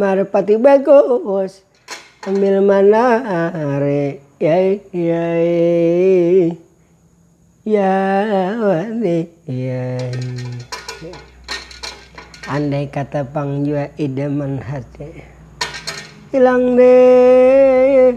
Marpati bagus sambil manarik yai yai yawani yai andai kata pang jua idaman hati hilang deh.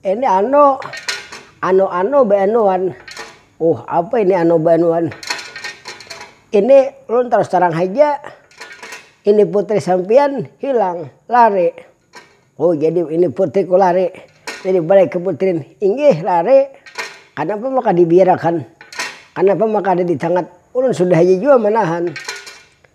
Ini anu, anu-anu beanuan. Uh, apa ini anu beanuan? Ini ulun terus terang haja, ini putri sampian hilang, lari. Oh, jadi ini putriku lari. Jadi balai ke putri, inggih lari, kanapa maka dibiarakan, kanapa maka ada di tangat. Ulun sudah haja jua manahan.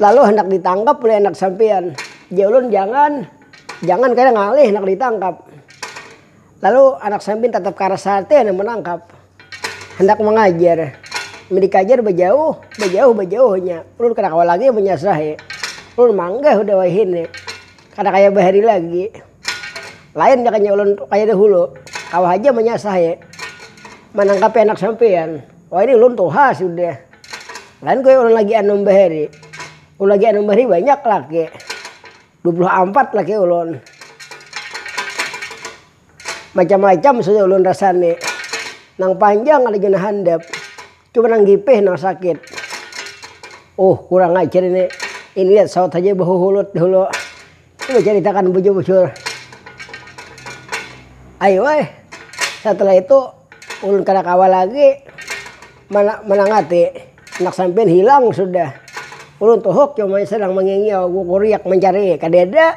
Lalu handak ditangkap ulih anak sampiyan. Jar ulun jangan, jangan kaya ngalih handak ditangkap. Lalu anak sampiyan tatap karas hati handak manangkap. Handak mangajar. Mun dikajar bajauh, bajauh, bajauh inya. Ulun kada kawa lagi manyasrahi. Ulun manggah hudah wayahini. Kada kaya bahari lagi. Lain jakanya ulun tu kaya dahulu. Kawa haja manyasahi. Manangkapi anak sampiyan. Wahini ulun tuha sudah. Lain kaya ulun lagi anum bahari. Ulun lagi anum bahari banyak laki. Dua puluh ampat laki ulun. Macam-macam sudah ulun rasani. Nang panjang ada jua nang handap. Cuma nang gipih nang sakit. Uh, kurang ajar ini. Ini lihat saut saja behuhulut dulu. Coba ceritakan bujur-bujur. Ayo eh. Setelah itu ulun kada kawa lagi mana menangati. Anak sampean hilang sudah. Ulun tuhuk cuma sedang mengingiau, kuriak mencari, kadada.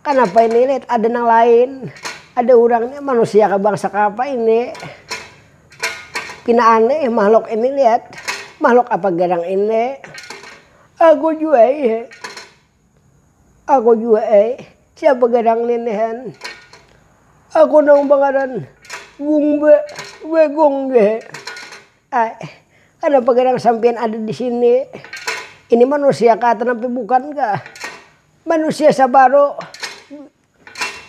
Kanapa ini leh ada nang lain. Ada urang nih manusia kah bangsa kapa ini. Pina aneh mahlok ini lihat. Mahlok apa garang ini. Aku jua ih. Aku jua ai. Siapa garang nih nihan. Aku nang bangaran Gungba Bagong jua ai. Kanapa garang sampiyan ada di sini. Ini manusia kah atau napa bukan kah. Manusia sabaro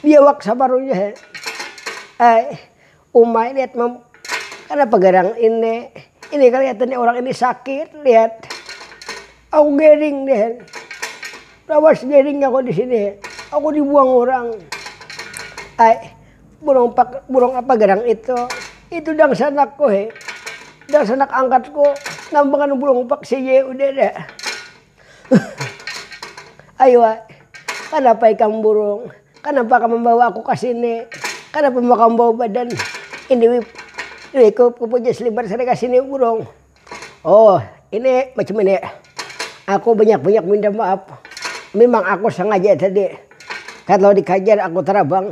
biawak sabaro jua ai uma lihat kanapa garang ini ini keliatan orang ini sakit lihat aku garing deh lawas garing aku disini aku dibuang orang ai burung pak burung apa garang itu itu dangsanakku he dangsanak angkatku nambakan burung pak seye udah dah. Aywa, kanapa ikam burung? Kanapa kam mambawa aku ka sini? Kanapa ma kam bawa badan ini wip wikup kupu jaslibar sampai ka sini burung? Oh, ini macam ini, aku banyak-banyak minta maap. Mimang aku sangaja tadi, talau dikajar aku tarabang,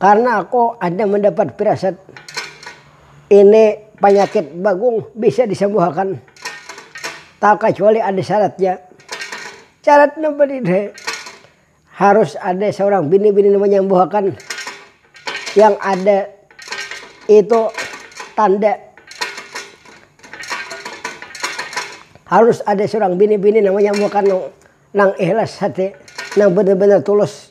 Karna aku ada mandapat pirasat ini panyakit bagung bisa disambuhakan takacuali ada syaratnya. Syarat napa did'hai? Harus ada saurang bini-bini nang manyambuhakan yang ada itu tanda harus ada saurang bini-bini nang manyambuhakan nang ikhlas hati, nang banar-banar tulus.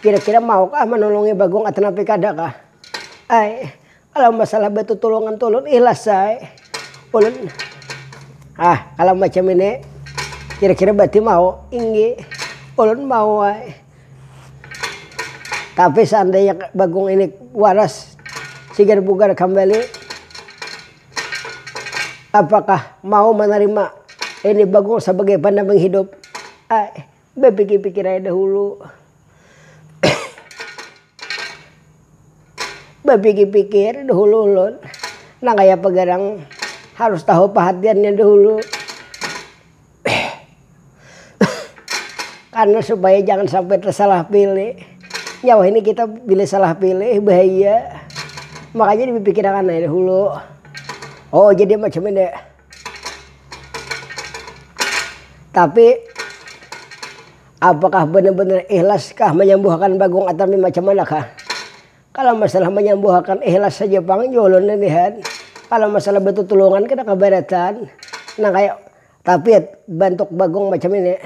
Kira-kira maukah manulungi Bagong atanapi kadakah? Ai, kalau masalah batutulungan tu ulun ikhlas ai. Ulun, hah kalau macam ini kira-kira berarti mau? Inggi, ulun mau ai. Tapi seandainya Bagong ini waras, sigar bugar kambali, apakah mau manarima ini Bagong sabagai pandamping hidup? Ai, Bapikir-pikir ai dahulu. Bapikir-pikir dahulu ulun. Nang kaya apa garang harus tahu pahatiannya dahulu. Karena supaya jangan sampai tersalah pilih. Nyawa ini kita bila salah pilih bahaya. Makanya dipikirakan ai dahulu. Oh jadi macam ini. Tapi, apakah banar-banar ikhlaskah manyambuhakan bagong atami macam manakah? Kalo masalah manyambuhakan ikhlas haja pang jua ulun lilihat. Kalo masalah batutulungan kada kabaratan. Nang kaya, tapi bantuk bagong macam ini,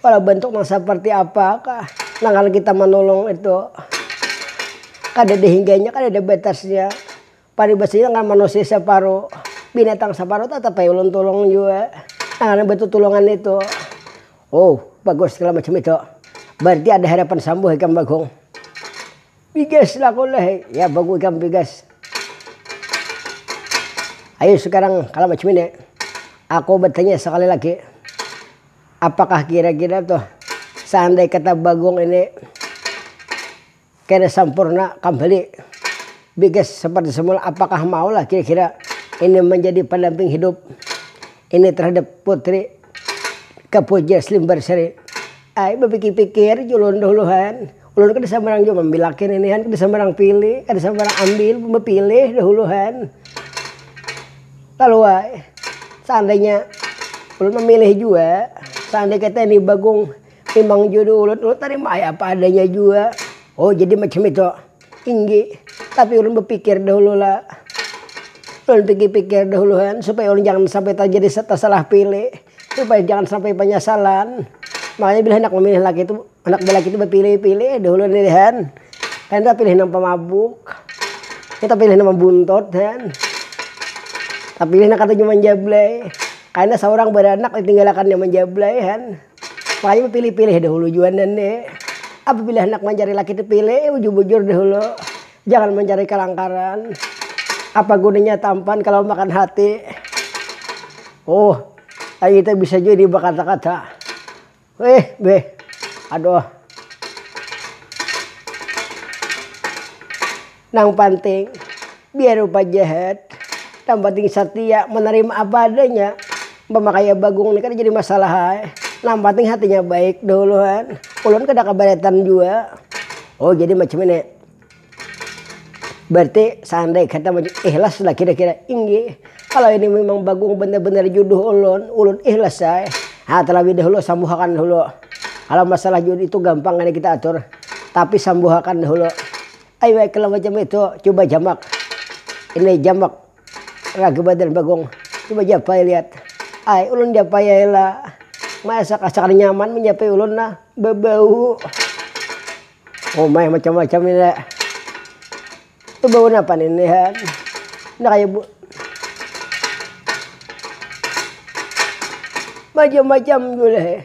kalo bantuk nang seperti apakah nang harus kita manulung itu. Kadada hingganya, kadada batasnya. Paribasinya ngaran manusia saparuh, binatang saparuh tatap ai ulun tulung jua. Nah ngaran batutulungan nitu. Wow bagus segala macam itu. Barti ada harapan sambuh ikam bagong. Bigas lah aku lah, ya bagu ikam bigas. Ayu sekarang kalo macam ini, aku batanya sekali lagi, apakah kira-kira tuh seandai kata bagong ini. Kira sampurna kambali bigas seperti semula apakah mau lah kira kira ini menjadi pendamping hidup ini terhadap putri kepo jesli mbarsari ai bapikir pikir jua ulun dahuluhan ulun kada sambarang jua mambilakin ini han kada sambarang pilih kada sambarang ambil bapilih dahuluhan kalu ai seandainya ulun mamilih jua seandai kata ini bagong. Timang jua diulut ulut tarima ai apa adanya jua. Oh jadi macam itu. Inggi. Tapi ulun bepikir dahulu la. Ulun pikir pikir dahulu han supaya ulun jangan sampai terjadi tersalah pilih. Supaya jangan sampai penyesalan. Makanya bila handak memilih laki itu handak belaki itu bepilih pilih ai dahulu nih han. Kada nang pilih nang pemabuk. Kada nang pilih nang mabuntot han. Tapilih nang katuju menjablay. Karena seorang beranak ditinggalakan yang menjablay han. Payah bapilih-pilih dahulu jua nen de. Apabila handak mancari laki tu pilih bujur-bujur dahulu. Jangan mancari kalangkaran. Apa gunanya tampan kalau makan hati. Oh, ai itu bisa jua ini bakata-kata. Weh, beh. Aduh. Nang panting, biar rupa jahat, nang panting satia, manarima apa adanya. Umpama kaya Bagong ni kada jadi masalah ai, nang panting hatinya baik dahuluan. Ulun kada kabaretan jua. Oh, jadi macam ini. Berarti seandai kata ihlas lah kira-kira. Inggih, kalau ini memang Bagong benar-benar juduh ulun, ulun ihlas ai. Ha, terlebih dahulu sambuhakan dahulu. Kalau masalah juduh itu gampang ini kita atur. Tapi sambuhakan dahulu. Ai wai kalo macam itu cuba jamak, ini jamak lagi badan bagong cuba japai liat ai ulun japai ai la maesak asa kada nyaman menjapai ulun la bebau uma macam macam ini bebau napa ini han enda kaya bu macam macam ulehh.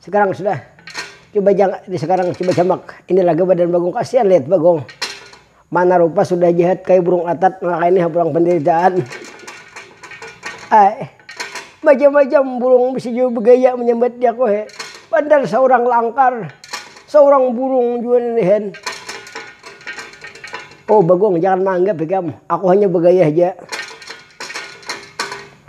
Sekarang sudah coba jang ini sekarang coba jamak ini laga badan bagong kasian lihat bagong mana rupa sudah jahat kaya burung atat maka ini hapulang penderitaan ae macam-macam burung bisa jua begaya menyambat jaku he padahal seorang langkar seorang burung jua ini hen oh bagong jangan maanggap ikam aku hanya begaya haja.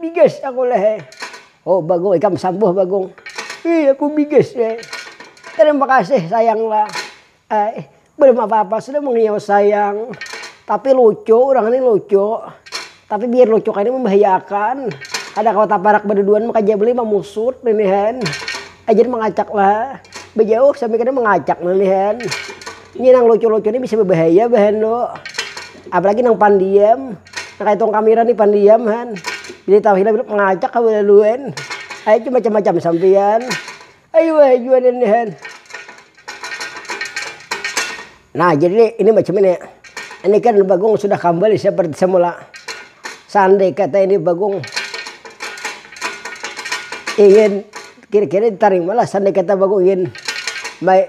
Bigas aku leh eh. Oh Bagong ikam sambuh Bagong. Ih aku bigas eh. Tarima kasih sayang lah. Eh belum apa apa sudah mengiyau sayang. Tapi lucu urang ni lucu. Tapi biar lucu kaya ni membahaya akan. Kada kawa taparak baduduan maka jabli mamusut ninihan. Ajar mengacak lah. Bajauh sambil kada mengacak ninihan. Ini nang lucu-lucu ni bisa bebahaya bah endo. Apalagi nang pandiam. Nang kaya tong kamira ni pandiam han. Jadi tahu hilang hilang mengacak ka belaluan. Ayo cuma macam-macam sampian. Ayo wah jua ini han. Nah jadi ini macam ini. Ini kan Bagong sudah kembali seperti semula. Sandai kata ini Bagong ingin kira-kira ditaring malah sandai kata Bagong ingin baik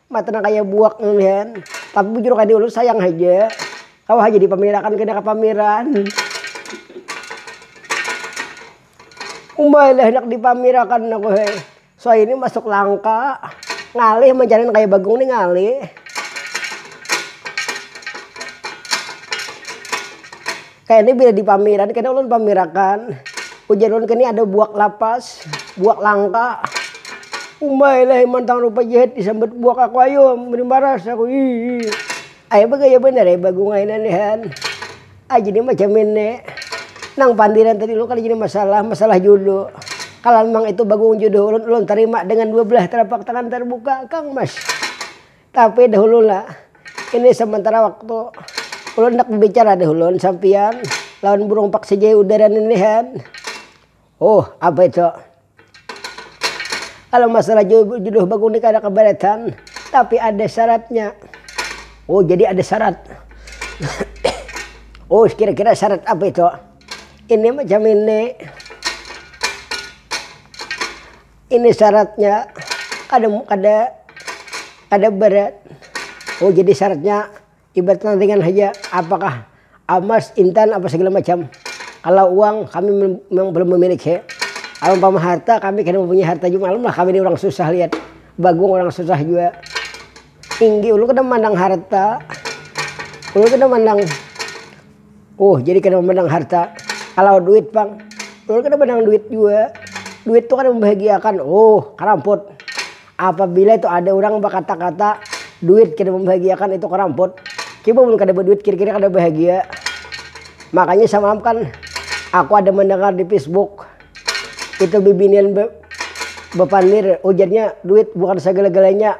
Matan nang kaya buak ninihan. Tapi bujur kaya diulun sayang haja. Kawa haja dipamirakan kena kapamiran. Umailah handak dipamirakan aku hai. Suai ni masuk langka. Ngalih mancaran kaya bagung ni ngalih. Kaya ni bila di pamiran kena ulun pamirakan, ujar ulun kini ada buak lapas, buak langka. Umbai lah iman tang rupa jahit disambat buak aku ayo meri maras aku hiih. Ae bagaya banar ae bagung ae nang nihan. Ae jadi macam ini. Nang pandiran tadi ulun kada jadi masalah, masalah julu. Kalanmang itu bagung juduh ulun, ulun tarima dengan dua belah telapak tangan tarbuka kang mas. Tapi dahulu lah, ini sementara waktu. Ulun handak babicara dahulu sampiyan lawan burung paksijai udara ninihan. Huh, apa itu? Kalau masalah jodoh bagung ni kada kabaratan, tapi ada syaratnya. Oh, jadi ada syarat. Oh, kira-kira syarat apa itu? Ini macam ini. Ini syaratnya kada kada kada berat oh jadi syaratnya ibarat nang ringan haja apakah amas intan apa segala macam kalau uang kami memang belum memiliki kalau umpama harta kami kada mempunyai harta jua malum lah kami ni urang susah lihat bagung urang susah jua tinggi ulun kada mandang harta ulun kada mandang. Huh jadi kada mamandang harta. Kalau duit pang, ulun kada mandang duit jua. Duit tu kada mambahagiakan. Huh karamput. Apabila itu ada urang bakata-kata duit kada mambahagiakan itu karamput. Coba mun kada baduit kira-kira kada bahagia. Makanya samalam kan aku ada mandangar di facebook, itu bibinian bapander ujarnya duit bukan sagala-galanya.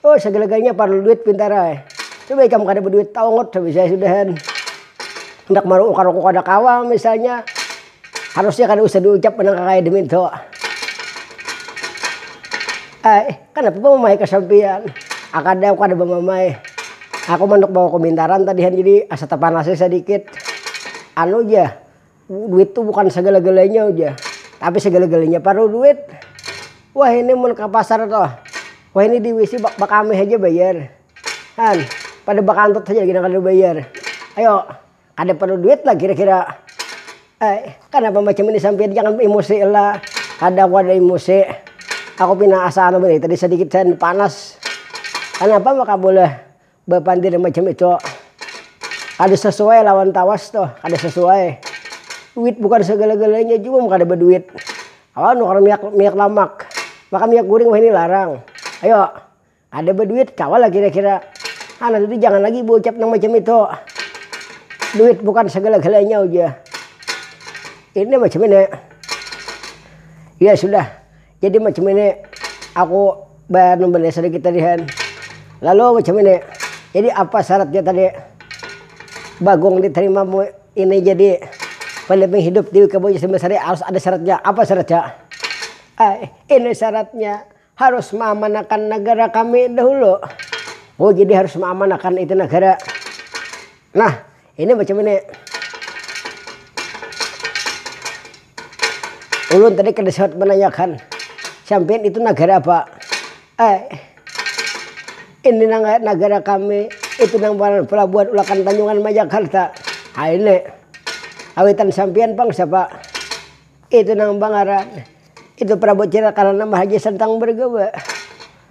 Oh sagala galanya parlu duit pintara eh. Coba ikam kada baduit taungut habisnya sudahan. Handak maruukar aku kada kawa misalnya harusnya kada usah diucap nang kakaya demitu. Ai, kanapa bamamai ka sampiyan? Akad ai aku kada bamamai. Aku manduk bawa kumintaran tadihan jadi asa tapanasi sadikit. Anu ja. Duit tu bukan sagala-galanya ujar. Tapi sagala-galanya parlu duit. Wah ini mun ka pasar tu. Wah ini di wc bakamih haja bayar. Han, pada bakantut haja lagi nang kada bayar. Ayo, kada parlu duit lah kira-kira. Ai, kanapa macam ini sampiyan jangan baemosi lah. Kada aku kada emosi. Aku pina asa anu banar tadi sadikit saja panas. Kanapa maka boleh Bapandir macam itu kada sasuai lawan tawas tuh, kada sasuai. Duit bukan sagala-galanya jua mun kada baduit. Kawa nukar miak miak lamak, maka miak guring wahini larang. Ayo, kada baduit kawalah kira-kira. Anak itu jangan lagi baucap nang macam itu. Duit bukan sagala-galanya ujar. Ini macam ini. Ya sudah. Jadi macam ini aku ba anu banar sedikit tadi kan lalu macam ini jadi apa syaratnya tadi bagong diterima mu ini jadi pendamping hidup di wika boja sumber sari harus ada syaratnya apa syaratnya ai ini syaratnya harus maamanakan negara kami dahulu oh jadi harus maamanakan itu negara nah Ini macam ini. Ulun tadi kada sempat menanyakan, sampian itu nagara apa? Eh, ini nang nagara kami itu nang pelabuhan ulakan tanjungan ma jakarta. Ha ini, kawitan sampian pang siapa? Itu nang pangaran itu prabu cina karana mahaji sentang bergewe.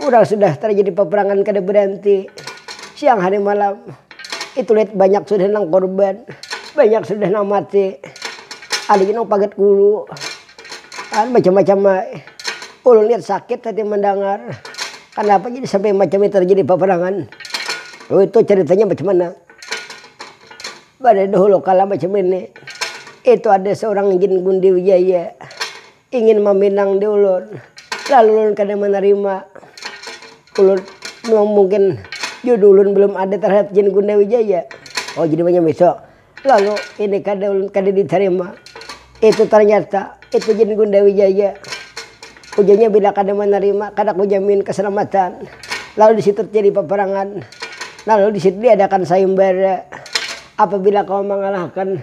Urang sudah tarjadi paparangan kada baranti siang hari malam. Itu lit banyak sudah nang korban, banyak sudah nang mati. Ada jua nang pagat gulu. Kan macam-macam ai. Ulun lihat sakit hati mandangar. Kanapa jadi sampai macam itu tarjadi paparangan. Dulu itu caritanya macam mana. Pada dahulu kala macam ini, itu ada seorang jin gundi wijaya. Ingin maminang di ulun. Lalu ulun kada manarima. Ulun mungkin jodoh ulun belum ada terhadap jin gunda wijaya. Oh jadi banyak miso. Lalu ini kada ulun kada ditarima. Itu ternyata itu jin gunda wijaya. Ujarnya bila kada manarima kada kujamin keselamatan. Lalu disitu terjadi peperangan. Lalu disitu diadakan sayembara. Apabila kau mengalahkan.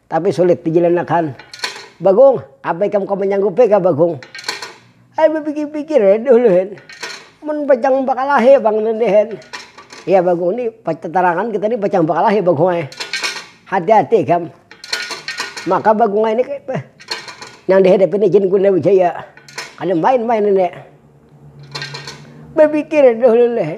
tapi sulit dijilanakan. Bagong, apa ikam kawa manyanggupi kah Bagong? Ai bapikir-pikir ai dahulu hen, mun pacang bakalahi pang nih hen. Iya Bagong nih tatarangan kita nih pacang bakalahi Bagong ai, hati-hati ikam. Maka Bagong ai nih nang dihadapi nih Jin Guna Wijaya kada main-main ini. Bapikir dahulu nih.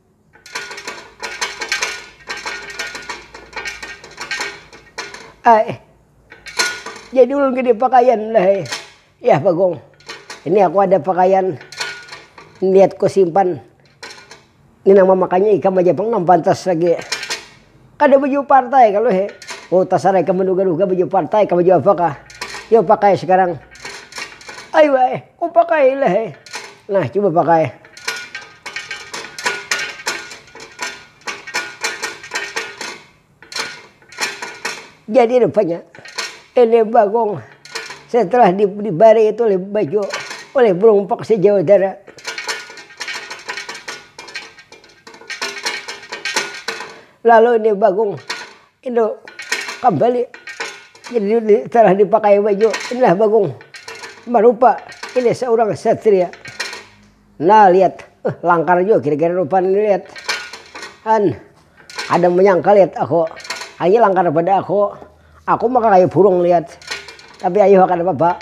ai jadi ulun kada pakaian dah ai, yah bagong ini aku ada pakaian niat kusimpan ni nang mamakai ikam aja pang nang pantas lagi. Kada baju partai kalu he. Oh tasarah ikam manuga-nuga baju partai kah baju apa kah. Yo pakai sekarang. Ai wae, oh pakai lah he. Nah cuba pakai. Jadi rupanya ini bagong setelah di dibari itu oleh baju oleh burung pekse jawa utara. Lalu ini bagong ini kambali telah dipakai baju inilah bagong marupa ini seorang satria nah liat langkar jua kira kira rupa ni liat an ada menyangka liat aku aye langkar pada aku, aku mah kaya burung liat tapi ayu kada papa.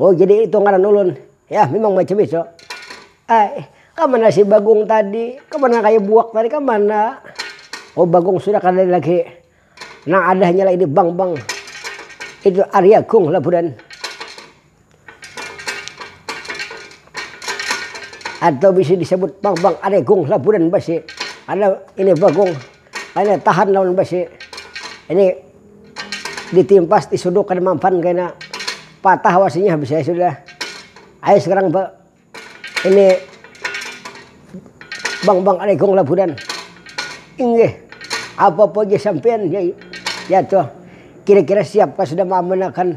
Oh jadi itu ngaran ulun. Yah mimang macam itu. Ai kamana si bagong tadi kamana kaya buak tadi kamana. Oh bagong sudah kada ada lagi nang ada hanya lagi di bank bank itu ari agung lah budan. Atau bisa disebut bank bank ari agung lah budan basi karna ini bagong. Kaina tahan lawan besi. Ini ditimpas disuduk kada mampan kaina patah wasinya habis ai sudah. Ayu sekarang ba ini bang bang ada ikung labudan. Inggih apa apa ja sampian ya ya toh kira kira siapkah sudah maamanakan.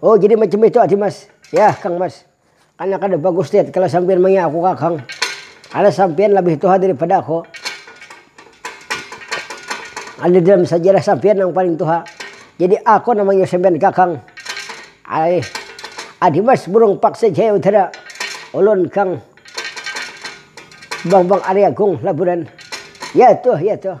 Oh jadi macam itu ati mas, yah kang mas karna kada bagus deh kalo sampiyan maya aku kakang karna sampiyan labih tuha dari pada aku, ada dalam sajarah sampiyan nang paling tuha jadi aku nang manggil sampiyan kakang aih ati mas burung paksa jaya utara ulun kang bambang ariagung labunan ya tuh ya tuh.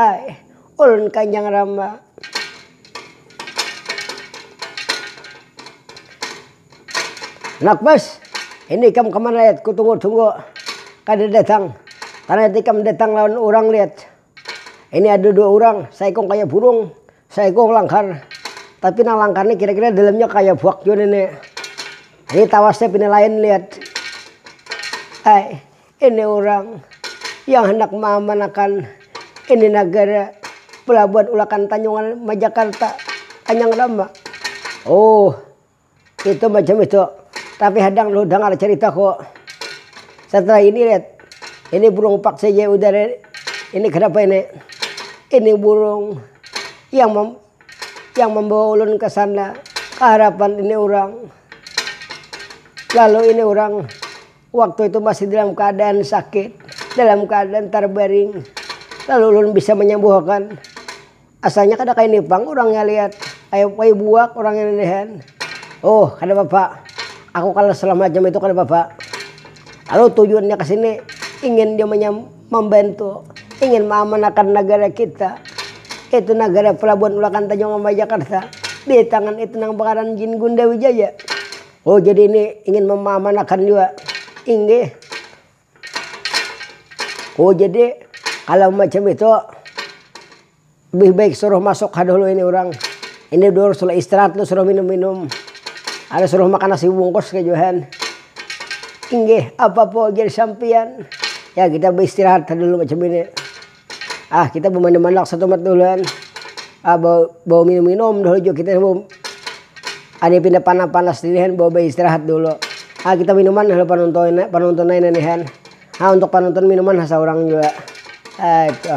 Ai, ulun kanjang ramba. Anak bos, ini ikam kamana lihat kutunggu-tunggu kada datang. Tarnyata ikam datang lawan urang lihat. Ini ada dua urang, saikung kaya burung, saikung langkar. Tapi nang langkar ni kira-kira dalamnya kaya buak jua ni. Ini tawasnya pina lain lihat. Ai, Ini urang yang handak maamanakan ini nagara pelabuhan ulakan Tanjungan Majakarta kanyang rama. Oh, itu macam itu. Tapi hadang lu dangar caritaku. Setelah ini lihat, ini burung pak saja yang udara ini kenapa ini. Ini burung yang yang membawa ulun ke sana ke harapan ini urang. Lalu ini urang Waktu itu masih dalam keadaan sakit, dalam keadaan tarbaring, lalu ulun bisa manyambuhakan. Asalnya kada kaini pang urangnya lihat, kaya kaya buak urangnya lilihan. Huh, kada papa, aku kalah salah macam itu kada papa. Lalu tujuannya ka sini ingin ja mambantu, ingin maamanakan nagara kita, yaitu nagara Pelabuhan Ulakan Tanjung Mambay Jakarta di tangan itu nang bangaran Jin Gunda Wijaya. Oh jadi ini ingin memamanakan jua inggih. Oh jadi kalau macam itu lebih baik suruh masuk ha dulu ini orang. Ini dulu suruh istirahat lu suruh minum-minum. Ada suruh makan nasi bungkus ke Johan. Inggih, apa po jadi sampian? Ya kita beristirahat ha dulu macam ini. Ah kita bumanda mandak satumat tu uluan. Ah bawa bawa minum-minum dahulu jua kita sebelum ada yang pindah panas-panas dinihan bawa baistirahat dulu. Ah kita minuman dahulu panonton panonton aina nihan. Ah untuk panonton minuman ha saurang jua. Ah itu.